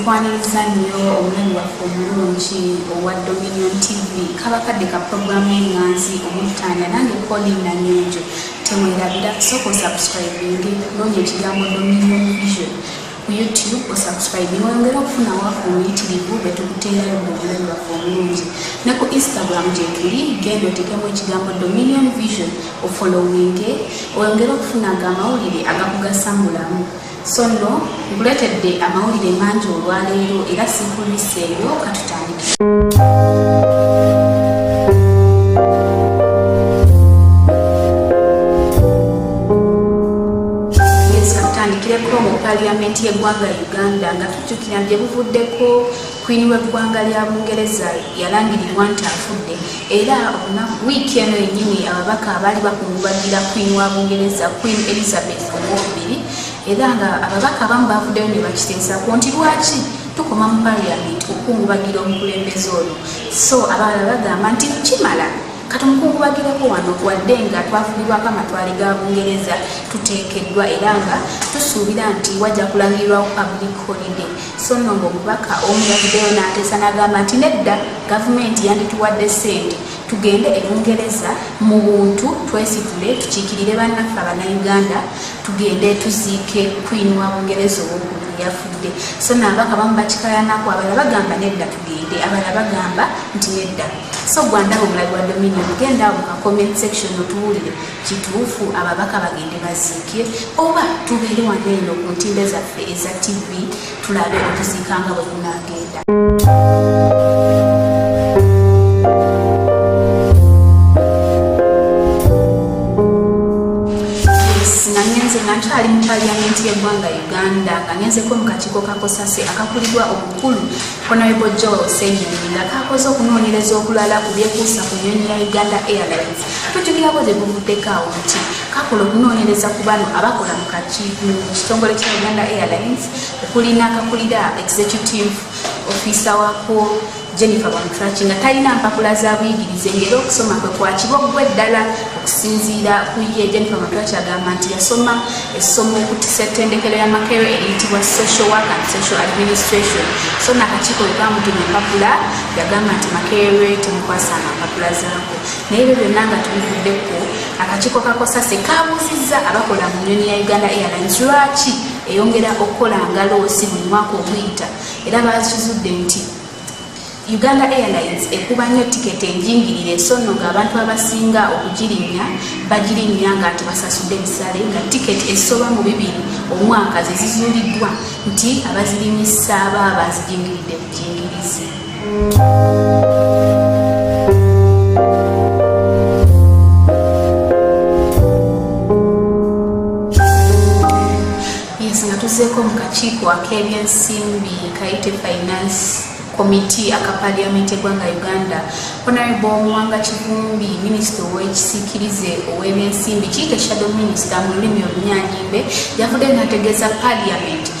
nkwaniriza nnyo omulimu waffe omulungi owa dominion tv kabakadde ka puroguramu y'enganzi omutanda nange koli nanyonjo temwerabira sooka osubscribinge noonya ekigambo dominion vision ku youtube osubscribe wongere okufuna waka omuyitirivu bwe tukuteerayo mu bulamu bwaffe obulungi ne ku instagram gyetuli genda otekemu ekigambo dominion vision ofollowinge oyongere okufuna nga amawulire agakugasa mu bulamu so no nkuleetedde amawulire mangi olwaleero era sikulwiseeyo katutandika paliamenti y'eggwanga uganda nga tujjukira nti ebuvuddeko kwini w'eggwanga lya bungereza yalangirirwa nti afudde era wiiki eno yennyini ababaka abaali bakungubagira kwini wa bungereza queen elizabeth owokubiri era nga ababaka abamu bavuddeyo ne bakiteesako nti lwaki tukoma mu parliament okukungubagira omukulembeze ono so abalala bagamba nti kimala katumukungubagirako wano wadde nga twafulibwako amatwale ga bungereza tuteekeddwa era nga tusuubira nti wajja kulangirirwawo public holiday so no ngaomubaka omu yavuddeyo n'ateesa n'agamba nti nedda gavumenti yandituwadde ssente tugende e bungereza mu buntu twesitule tukiikirire bannaffe abanauganda tugende tuziike kwini wa bungereza owokulu yafudde so nabaka bamu bakikayanaku abala bagamba nedda tugende abala bagamba nti nedda so gwandaba omulabi wa dominion genda mu ka comment section otuwulire kituufu ababaka bagende baziike oba tubeere wano eno ku ntimbe zaffe eza tv tulabe okuziika nga bwe kunaagenda nkyali mu paliyamenti y'eggwanga uganda nga ngenzeko mu kakiiko kakosase akakulirwa omukulu honorable joel senyonyi nga kakoze okunoonyereza okulala ku byekuusa ku nyonyi ya uganda airlines tujukirako gye buvuddeko awo nti kakola okunoonyereza ku bano abakola mu kitongole kya uganda airlines okuli n'akakulira executive ofiisa wako jennifer bamutraki nga talina mpapula za buyigirize ngaera okusoma kwe kwakiba okuba eddala okusinziira ku ye jennifer bamutraki agamba nti yasoma essomo okutisa ettendekero ya makero eriyitibwa social work and social administration so naakakiiko bwe bamutuma empapula yagamba nti makerwe temukwasa nga mpapula zaako naye ebyo byonna nga tubivuddeko akakiiko ka kosase kabuuzizza abakola mu nyonyi ya uganda airlines lwaki eyongera okukola ngaloosi buli mwaka okuyita era bakizudde nti uganda airlines ekuba nnyo tiketi enjingirire so nno ng'abantu abasinga okugirinnya bagirinnya nga nti basasudde ebisale nga tiketi esoba mu bibiri omwaka zezizuuliddwa nti abazirinyisa baaba zijingiridde bujingirizi tuzeeko mu kakiiko ak'ebyensimbi kayite finance committee aka parliament egwanga uganda honorable omuwanga kivumbi minisita ow'ekisikirize ow'ebyensimbi kiyite shadow minisita mu lulimi olunyanyimbe yavudde nategeeza parliament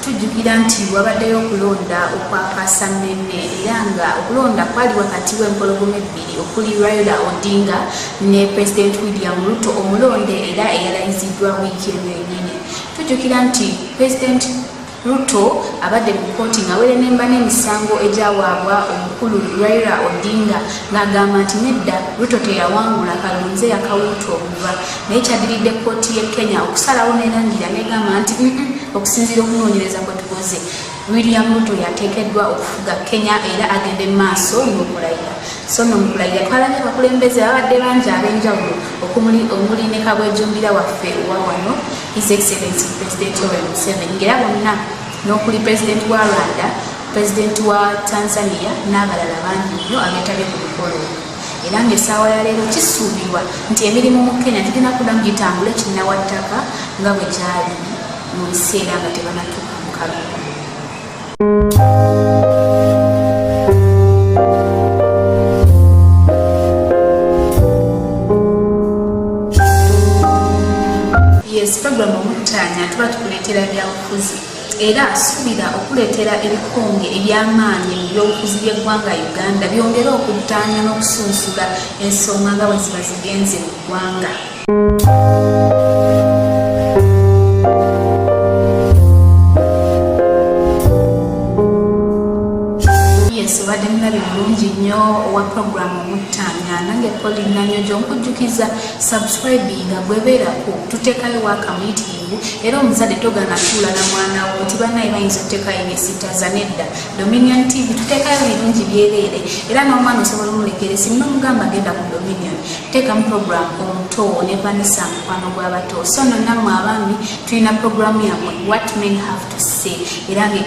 Tujjukira nti wabaddeyo okulonda okwa kaasannenne era nga okulonda kwali wakati w'empologoma ebbiri okuli Raila Odinga ne Pulezidenti William Ruto omulonde era eyalayiziddwa wiiki eno yennyini. Tujjukira nti Pulezidenti Ruto abadde mu kkooti ng'awerenemba n'emisango egyawaabwa omukulu Raila Odinga ng'agamba nti nedda Ruto teyawangula kalonze yakawuuta obuva naye kyadiridde kkooti ye kenya okusalawo nerangira negamba nti okusinziira okunoonyereza kwe tukoze william ruto yateekeddwa okufuga kenya era agende mu maaso n'okulayira so no mukulayira twalabye abakulembeze babadde bangi ab'enjawulo okumuli omuli ne kabwejumbira waffe owa wano his excellency president owen museveni ngera bonna n'okuli pulezidenti wa rwanda pulezidenti wa tanzania n'abalala bangi nnyo abeetabye ku mukolo era ng'essaawa ya leero kisuubirwa nti emirimu mu kenya tugenda kudamu gitambule kinnawattaka nga bwe gyali mu biseera nga tebanatuuka mu kalulu yes program omutanya tuba tukuleetera byabufuzi era asuubira okuleetera ebikonge eby'amaanyi mu by'obufuzi by'eggwanga uganda byongere okuttaanya n'okusunsula ensonga nga bwe ziba zigenze mu ggwanga kujukiza subscribinga gwebeerako tutekayo wakamuyitii era omuzadde togana tuula na mwana wo nti banaye bayinza otekayo nesitaza nedda dominion tv tutekayo birungi byereere era n'omwana osobola omulekere simu nomugamba genda ku dominion tekamu program omuto ne vanisa mukwano gw'abato so nonamwe abaami tulina programu yamwe what men have se era nga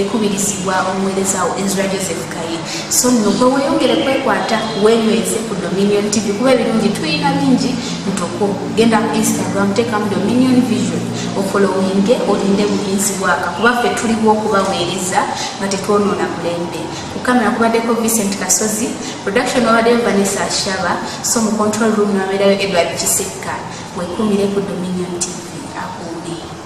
ekubirizibwa omuwerezawo ezra joseph kaye so nno gwe weyongere kwekwata wenyweze ku dominion tv kuba ebirungi tulina bingi ntoko genda ku instagram tekamu dominion vision ofolowinge olinde buyinzi bwaka kuba ffe tuliwo okubaweereza nga tetwonoona mulembe kukamera kubaddeko vincent kasozi production wabaddeyo vanessa ashaba so mu control room nabeerayo edward kisekka wekumire ku dominion tv